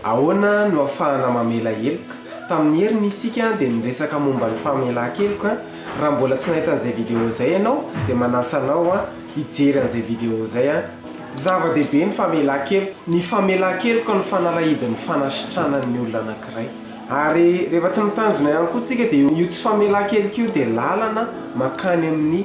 Ahoana no ahafahana mamela heloka? Tamin'ny heriny isika dia niresaka momba ny famelan-keloka. Raha mbola tsy nahita an'izay video izay ianao dia manasa anao hijery an'izay video izay. Zava-dehibe ny famelan-keloka. Ny famelan-keloka no fanalahidin'ny fanasitrana ny olona anankiray. Ary rehefa tsy mitandrina ihany koa isika dia io tsy famelan-keloka io dia lalana mankany amin'ny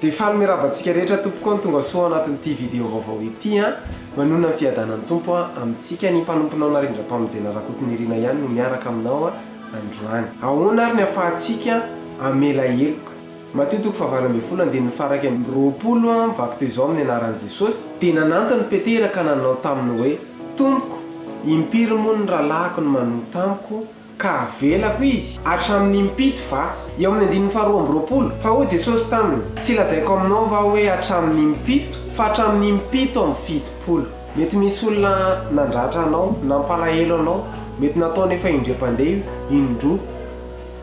Dia faly mirava antsika rehetra tompoko an tonga soa ao anatin'ity video vaovao ity an! Manonona ny fiadanan'ny Tompo an amintsika ny mpanomponao Narindrampamonjena Rakotonirina ihany no miaraka aminao an androany. Ahoana ary ny afahantsika hamela heloka? Matio toko fahavalo ambin'ny folo andininy faha iraika amby roapolo Mivaky toy izao amin'ny anaran'i Jesosy, dia nanantona i Petera ka nanao taminy hoe, Tompoko, impiry moa ny rahalahiko no manota amiko, ka avelako izy? Hatramin'ny impito va? Eo amin'ny andininy faha roa amby roapolo, Fa hoy Jesosy taminy, Tsy lazaiko aminao va hoe hatramin'ny impito, fa hatramin'ny impito amby fitopolo. Mety misy olona nandratra anao, nampalahelo anao, mety nataony efa indray mpandeha io, indroa.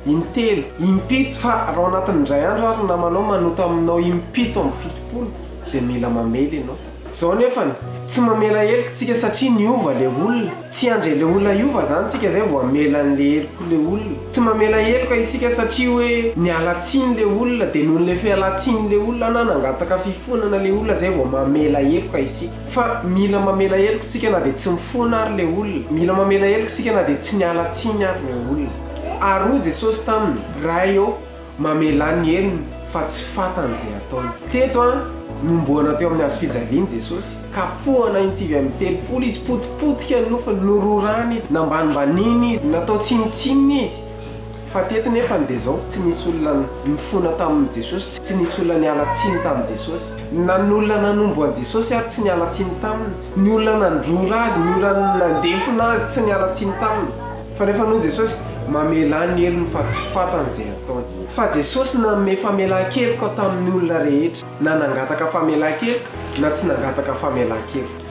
In-telo, in-pito, fa raha ao anatin'ny indray andro ary ny namanao manota aminao im-pito amby fitopolo dia mila mamely ianao. Izao anefa ny, tsy mamela heloka isika satria niova ilay olona, tsy handre ilay olona hiova izany isika izay vao hamela an'ilay heloka ilay olona. Tsy mamela heloka isika satria hoe niala tsiny ilay olona dia noho ilay fialan-tsinin'ilay olona na nangataka fifonana ilay olona izay vao mamela heloka isika. Fa mila mamela heloka isika na dia tsy mifona ary ilay olona, mila mamela heloka isika na dia tsy niala tsiny ary ilay olona. Ary hoy Jesosy taminy, Ray ô, mamelà ny helony, fa tsy fantany izay ataony. Teto an, nomboana teo amin'ny hazo fijaliany Jesosy. Kapohana in-tsivy amby telopolo Izy, potipotika ny nofony, nororana Izy, nambanimbanina Izy, natao tsinontsinona Izy. Fa teto nefany dia izao, tsy nisy olona nifona tamin'i Jesosy, tsy nisy olona niala tsiny tamin'i Jesosy. Na ny olona nanombo an'i Jesosy ary tsy niala tsiny taminy. Ny olona nandrora Azy, ny olona nandefona Azy tsy niala tsiny taminy. Fa rehefa hanao Jesosy, mamelà ny helony fa tsy fantany izay ataony. Fa Jesosy nanome famelan-keloka tamin'ny olona rehetra, na nangataka famelan-keloka na tsy nangataka famelan-keloka.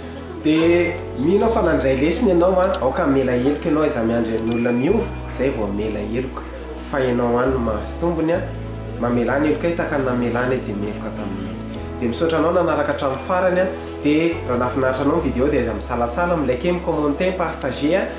Dia mino aho fa nandray lesona ianao an, aoka hamela heloka ianao, aiza miandry an'olona miova izay vao hamela heloka. Fa ianao ihany no mahazo tombony an, mamelà ny helokay tahaka ny namelanay izay meloka taminay. Dia misaotra anao nanaraka hatramin'ny farany an, dia raha nahafinaritra anao ny vidéo dia aiza misalasala, mi-liker, mi-commenter, mi-partager an.